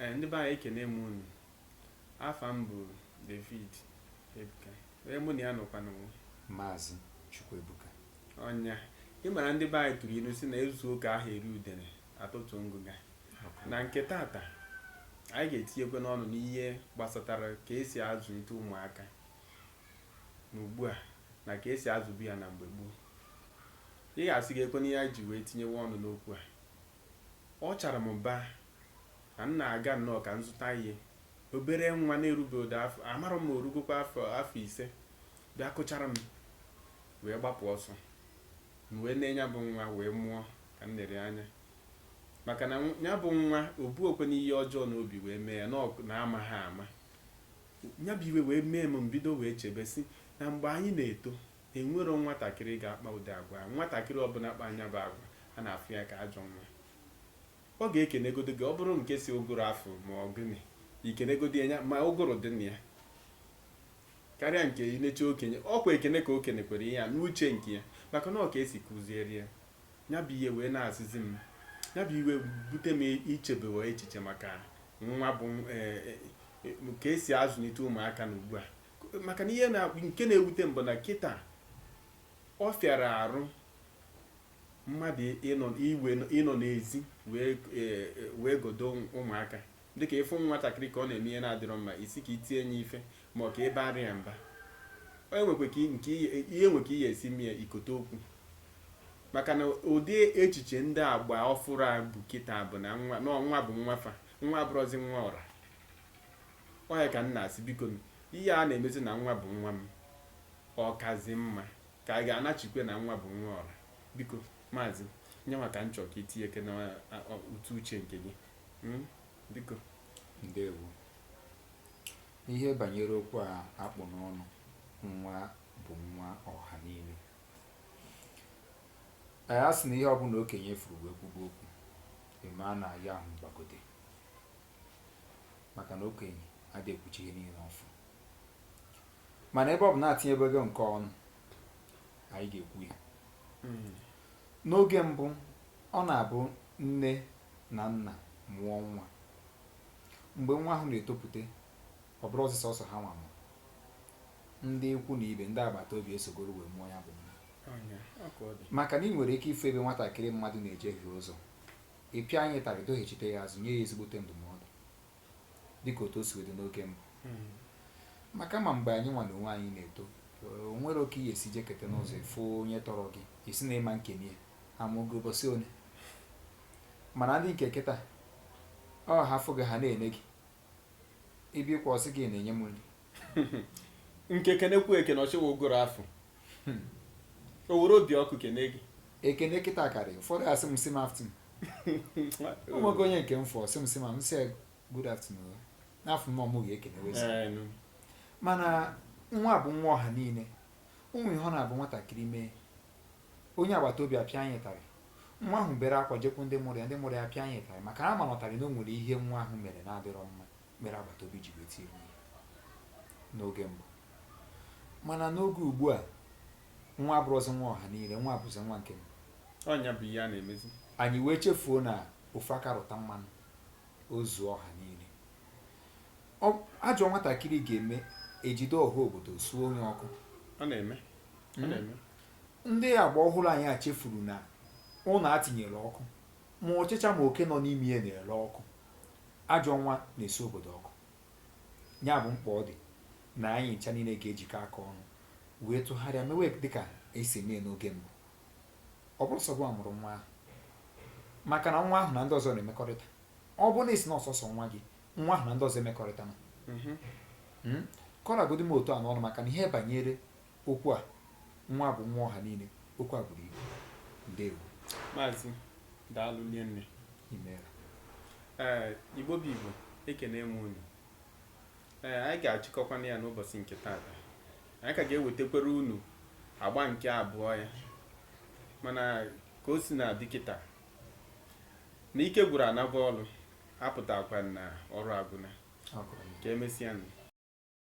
ee eh, ndị be anyị ekene m unu afa m bụ David Ebuka onye mụ na ya nọkwa nụnwa maazị Chukwuebuka ọnya ị mara ndị be anyị tụrụ ilu sị na e zuo ka aha eri udene a tọtuo ngụga na nke tata anyị ga-etinyekwanụ ọnụ n'ihe gbasatara ka esi azụlite ụmụaka na ugbu a na ka esi azụbu ya na mgbe gboo ị ga-asị kekwanụ ihe anyị ji wee tinyewe ọnụ n'okwu a Ọ chara m ba na m na-aga nnọọ ka m zụta ihe. Obere nwa na-erubeghị ụdị afọ, amarọ m ma o rugokwa afọ ise, bịa kụchara m wee gbapụ ọsọ. M wee nee ya bụ nwa wee mụọ ka m lere anya. Maka na ya bụ nwa, o burọkwanụ ihe ọjọọ n'obi wee mee ya, na ọ na amaghị ama. Ya bụ iwe wee mee m, m bido wee chebe sị na mgbe anyị na-eto, E nwerọ nwatakịrị ga-akpa ụdị agwa a. Nwatakịrị ọbụla kpaa ya bụ agwa, a na-afụ ya ka ajọ nwa. Ọ ga-ekenegodu gị, ọ bụrụ nke sị ụgụrụ afụ ma ọ gịnị, i kenegodu ya ma ụgụrụ dị na ya karịa nke ineche okenye. Ọ kwa ekene ka o kenekwere ihe a n'uche nke ya maka na ọ ka e si kuziere ya. Ya bụ ihe wee na-asịzi m, ya bụ iwe bute m ichebewa echiche maka ya bụ e, e, ka e si azụlite ụmụaka na ugbu a maka na ihe nke na-ewute m bụ na kịta ọ fịara arụ mmadụ ịnọ n'ezi wee e, e, wee godo ụmụaka dịka ịfụ nwatakịrị ka ọ na-eme ihe na-adịrọ mma ị sị ka i tie ya ife ma ọ ka ị baara ya mba onye nwekwa ka nke ihe nwe ka ị ya-esi mee i kote okwu maka na ụdị echiche ndị agba ọfụrụ a bụ kịta bụ na nwa bụ nwa fa nwa abụrọzi nwa ọra Ọ ya ka m na-asị bikonu ihe a na-emezi na nwa bụ nwa m ọ kazi mma ka a ga-anachikwa na nwa bụ nwa ọra biko maazị ya nwa ka m chọrọ ka i tinyekene ụtụ uche nke gị hmm? biko ndewo ihe banyere okwu a a kpụ n'ọnụ nwa bụ nwa ọha niile anyị asị na ihe ọbụla okenye fụrụ wee kwube okwu ị mara na ihe ahụ gbagote maka na okenye adịghị ekwucha ihe niile ọ fụ mana ebe ọ bụ na etinyebego nke ọnụ anyị ga-ekwu ya n'oge mbụ ọ na-abụ nne na nna mụọ nwa mgbe nwa ahụ na-etopụta ọ bụrọzi sọọsọ ha nwa mụrụ ndị ikwu na ibe ndị agbata obi esogoro wee mụọ ya bụ nwa maka na ị nwere ike ịfụ ebe nwatakịrị mmadụ na-ejehie ụzọ Ị pịa nya ịtarị, dọghachite ya azụ, nye ya ezigbote ndụmọdụ, dị ka otu o si wee dị n'oge mbụ. Maka na mgbe anyị nwa na onwe anyị na-eto, o nwerọ ka i ya-esi jekete n'ụzọ ị fụ onye tọrọ gị, ị sị na ị ma ekene ya, a mụ gị ụbọchị one. Mana ndị nke kịta, ọ ha fụ gị ha na-ene gị. ị bịakwa ọ sị gị na-enye m nri nke kenekwu ekene ọchịwa ụgụrụ afọ o were obi ọkụ kene gị ekene kịta karị ụfọdụ asị m sị m afternoon o nwego onye nke m fụ sị m sị ma m sị ya good afternoon na ọ bụ mụ ga-ekenewezi Ee, nụ. mana nwa bụ nwa ọha niile ọ bụ ihe ọ na-abụ nwatakịrị mee onye agbata obi apịa nya ịtarị nwa ahụ bere akwa jekwu ndị mụrụ ya ndị mụrụ ya apịa nya ịtarị maka na a ma na ịtarị na o nwere ihe nwa ahụ mere na-adịrọ mma mere agbata obi ji wee tie nya n'oge mbụ mana n'oge ugbu a nwa abụrụzi nwa ọha niile nwa abụzi nwa nke m ọ nya bụ ihe a na-emezi anyị wee chefuo na ofu aka rụta mmanụ o zuo ọha niile Ọ- ajọ nwatakịrị ga-eme e jide ọha obodo suo nya ọkụ ọ na-eme ọ na-eme Ndị agba ọhụrụ anyị a chefuru na ụnọ a tinyere ọkụ, ma ọchịcha ma oke nọ n'ime ya na-ere ọkụ. Ajọ nwa na-esi obodo ọkụ. Ya bụ mkpa ọ dị na anyị ncha niile ga-ejikọ aka ọnụ wee tụgharịa mewe dị ka e si eme ya n'oge mbụ. Ọ bụrọ sọ gị a mụrụ nwa ahụ, maka na nwa ahụ na ndị ọzọ na-emekọrịta. Ọ bụrụ na ị sị na ọ sọsọ nwa gị, nwa ahụ na ndị ọzọ emekọrịtana. Mm? Ka ọ ragodi m otu a n'ọnụ maka na ihe banyere okwu a, nwa bụ nwa ọha niile. Okwu a buru ibu. Ndewo. Maazị, daalụ rinne. Imeela. Ee, Igbo bụ Igbo, ekene m unu. Ee, anyị ga-achịkọkwana ya n'ụbọchị nke taata. Anyị ka ga-ewetakwara unu agba nke abụọ ya. Mana ka o si na-adị kịta, na ike gwụrụ a naba ọrụ, apụtakwa na ọrụ agwụna. Ọ gwụrọ. Ka emesịa nụ.